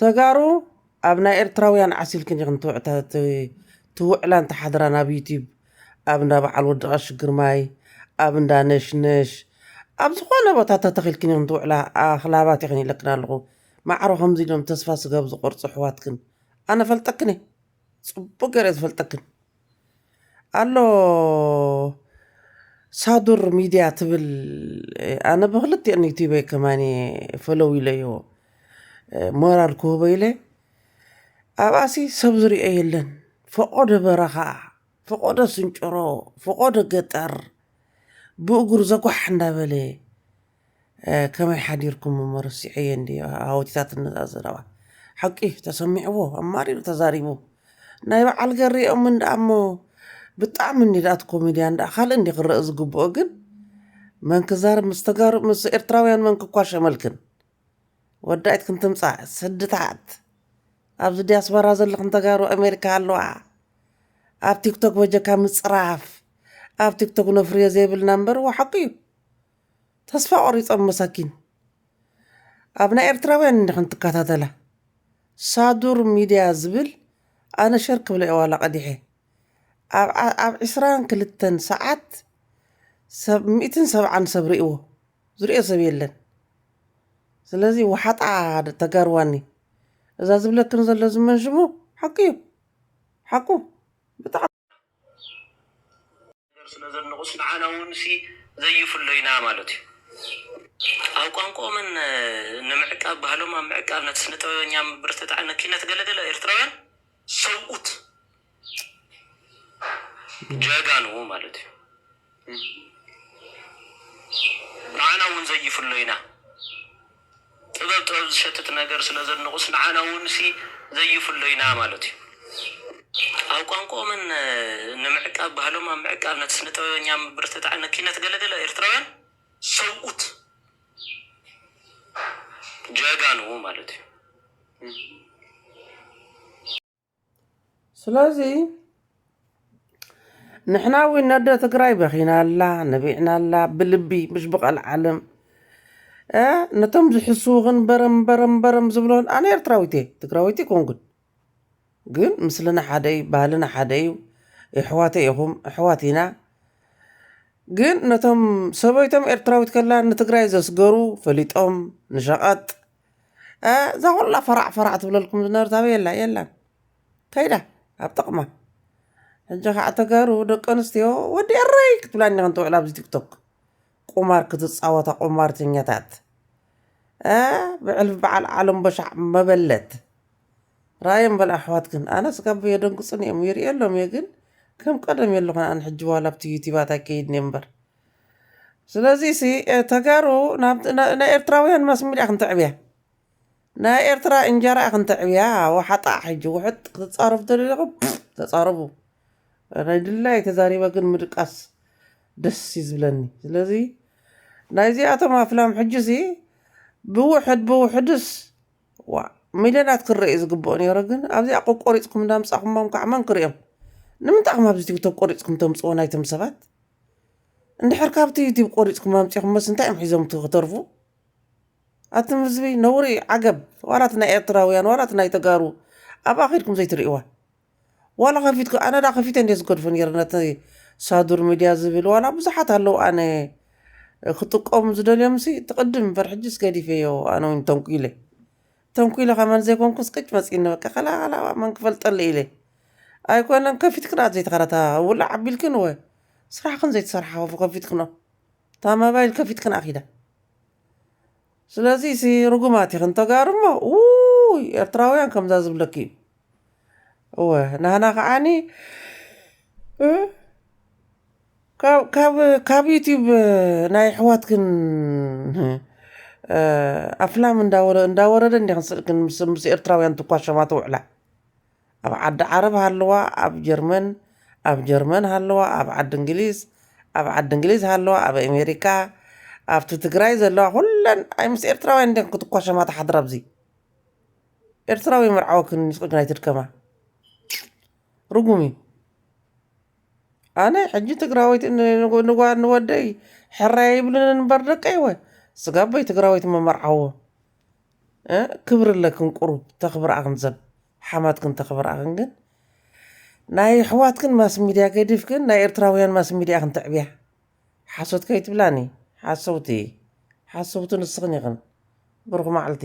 ተጋሩ ኣብ ናይ ኤርትራውያን ዓሲልክን ኢኽን ትውዕላን ትሓድራን ኣብ ዩቲብ ኣብ እንዳ በዓል ወዲ ቀሺ ግርማይ ኣብ እንዳ ነሽነሽ ኣብ ዝኾነ ቦታ ተተኺልክን ኢኽን ትውዕላ ኣኽላባት ኢኽን ኢለክን ኣለኹ ማዕሮ ከምዚ ኢሎም ተስፋ ስጋ ኣብ ዝቆርጹ ኣሕዋትክን ኣነ እፈልጠክን እየ ጽቡቅ ገይረ እየ ዝፈልጠክን። ኣሎ ሳዱር ሚድያ ትብል ኣነ ብክልቲኤን ዩቲበይ ከማን እየ ፈለው ኢለዮ ሞራል ክህቦ ኢለ ኣብኣሲ ሰብ ዝሪኦ የለን ፈቆዶ በረኻ ፈቆዶ ስንጭሮ ፈቆዶ ገጠር ብእግሩ ዘጓሕ እንዳበለ ከመይ ሓዲርኩም እሞ ረሲዐዮ እንድየ ሃወቲታት ነዛ ዘረባ ሓቂ ተሰሚዕዎ ኣማሪሩ ተዛሪቡ ናይ በዓል ገሬኦም እንድኣ እሞ ብጣዕሚ እንዲ ድኣ እቲ ኮሜድያን ድኣ ካልእ እንዲ ክረእ ዝግብኦ ግን መን ክዛረብ ምስ ተጋሩ ምስ ኤርትራውያን መን ክኳሸመልክን ወዳኢት ክንትምጻእ ስድታት ኣብዚ ዲያስፖራ ዘለኽን ተጋሩ ኣሜሪካ ኣለዋ ኣብ ቲክቶክ በጀካ ምጽራፍ ኣብ ቲክቶክ ነፍርዮ ዘይብልና እምበር ዋሓቁ እዩ ተስፋ ቆሪጾም መሳኪን ኣብ ናይ ኤርትራውያን እንዲኽን ትካታተላ ሳዱር ሚድያ ዝብል ኣነ ሸር ክብላ እየ ዋላ ቀዲሐ ኣብ ኣብ ዕስራን ክልተን ሰዓት ሰብ ሚእትን ሰብዓን ሰብ ሪእዎ ዝሪኦ ሰብ የለን ስለዚ ወሓጣ ተጋርዋኒ እዛ ዝብለክን ዘሎ ዝመንሽሙ ሓቁ እዩ ሓቁ ብጣዕሚ ነገር ስለ ዘድንቑስ ንዓና ውንሲ ዘይፍሎ ኢና ማለት እዩ። ኣብ ቋንቁኦምን ንምዕቃብ ባህሎም ኣብ ምዕቃብ ነቲ ስነጥበበኛ ምብርትታዕ ንኪነት ገለ ገለ ኤርትራውያን ሰብኡት ጀጋኑ ማለት እዩ። ንዓና እውን ዘይፍሎ ኢና ጥበብ ጥበብ ዝሸትት ነገር ስለ ዘድንቁስ ንዓና እውን ሲ ዘይፍሎ ኢና ማለት እዩ። ኣብ ቋንቁኦምን ንምዕቃብ ባህሎም ኣብ ምዕቃብ ነቲ ስነ ጥበበኛ ምብርትታዕ ን ኪነት ገለ ገለ ኤርትራውያን ሰብኡት ጀጋኑ ማለት እዩ። ስለዚ ንሕና እውን ነደ ትግራይ በኺናላ ነቢዕናላ ብልቢ ምሽ ብቐልዓለም ነቶም ዝሕስዉኽን በረም በረም በረም ዝብሎን ኣነ ኤርትራዊት እየ ትግራዊት ይኮንኩን ግን ምስልና ሓደ እዩ ባህልና ሓደ እዩ የሕዋተ ኢኹም ኣሕዋት ኢና ግን ነቶም ሰበይቶም ኤርትራዊት ከላ ንትግራይ ዘስገሩ ፈሊጦም ንሸቐጥ እዛ ኩላ ፈራዕ ፈራዕ ትብለልኩም ዝነበረት ኣበይ ኣላ የላን ከይዳ ኣብ ጥቕማ ሕጂ ከዓ ተጋሩ ደቂ ኣንስትዮ ወዲ ኤረይ ክትብላ እኒኸን ትውዕላ ኣብዚ ቲክቶክ ቁማር ክትፃወታ ቁማርተኛታት ብዕልፊ በዓል ዓለም በሻዕ መበለት ራእዮም በል ኣሕዋትክን ኣነ ስጋብ የደንግፁኒ እዮም ይርእየሎም እየ ግን ከም ቀደም የለኹን ኣነ ሕጂ ዋላ ኣብቲ ዩቲባት ኣይከይድን እየ እምበር ስለዚሲ ተጋሩ ናይ ኤርትራውያን ማስሚድያ ክንተዕብያ ናይ ኤርትራ እንጀራ ክንተዕብያ ወሓጣ ሕጂ ውሕጥ ክትጻረፉ ተደሊኹም ተጻረፉ ናይ ድላየይ ተዛሪበ ግን ምድቃስ ደስ እዩ ዝብለኒ ስለዚ ናይዚኣቶም ኣፍላም ሕጂሲ ብውሕድ ብውሕድስ ዋእ ሚልዮናት ክረእ እዩ ዝግብኦ ነይሩ ግን ኣብዚኣ ቆቆሪጽኩም እንዳምጻኹሞም ካዓ መን ክሪኦም ንምንታይ ኢኹም ኣብዚ ቲክቶክ ቆሪጽኩም ተምጽዎ ናይቶም ሰባት እንድሕር ካብቲ ዩቲብ ቆሪፅኩም ኣምፂኹሞስ እንታይ እዮም ሒዞም ክተርፉ ኣቱም ህዝቢ ነውሪ እዩ ዓገብ ዋላ እቲ ናይ ኤርትራውያን ዋላ እቲ ናይ ተጋሩ ኣብኣ ከድኩም ዘይትርእይዋ ዋላ ከፊትኩ ኣነ ዳ ከፊተ እንዲየ ዝገድፎ ነይረ ነቲ ሳዱር ሚድያ ዝብል ዋላ ብዙሓት ኣለዉ ኣነ ክጥቀሙ ዝደልዮምሲ እቲ ቅድም እምበር ሕጅስ ገዲፈዮ ኣነ እውን ተንኲለ ተንኲለ ከማን ዘይኮንኩስ ቅጭ መጺኒ በቃ ከላላባ መን ክፈልጠለይ ኢለ ኣይኮነን ከፊትክን ኣት ዘይተኸረታ ውላዕ ኣቢልክን እወ ስራሕክን ዘይትሰርሓ ከፉ ከፊትክኖ እታ መባይል ከፊትክን ኣኺዳ ስለዚ ሲ ርጉማት ኢኽን ተጋሩ እሞ ውይ ኤርትራውያን ከምዛ ዝብለኪ እዩ እወ ናህና ከዓኒ ካብ ዩቱብ ናይ ኣሕዋትክን ኣፍላም እንዳወረደ እንዲኺ ስእልክ ምስ ኤርትራውያን ትኳሸማ ትውዕላ። ኣብ ዓዲ ዓረብ ሃለዋ ኣብ ጀርመን ኣብ ጀርመን ሃለዋ ኣብ ዓዲ እንግሊዝ ኣብ ዓዲ እንግሊዝ ሃለዋ ኣብ ኣሜሪካ ኣብቲ ትግራይ ዘለዋ ኩለን ኣይ ምስ ኤርትራውያን እንዲኺ ክትኳሸማ ትሓድራ ኣብዚ። ኤርትራዊ መርዓዊ ክን ምስ ቅግናይ ትድከማ ርጉም እዩ ኣነ ሕጂ ትግራወይቲ ንጓ ንወደይ ሕራይ ይብልን እንበር ደቀይወ ስጋበይ ትግራወይቲ መመርዓዎ ክብሪ ኣለክን ቁሩብ ተኽብርኣኽን ዘብ ሓማትክን ተኽብርኣኽን ግን ናይ ኣሕዋትክን ማስ ሚድያ ገዲፍክን ናይ ኤርትራውያን ማስ ሚድያ ክን ተዕብያ ሓሶት ከይትብላኒ ሓሰውቲ ሓሰውቲ ንስኽን ኢኽን ብሩኽ ማዕልቲ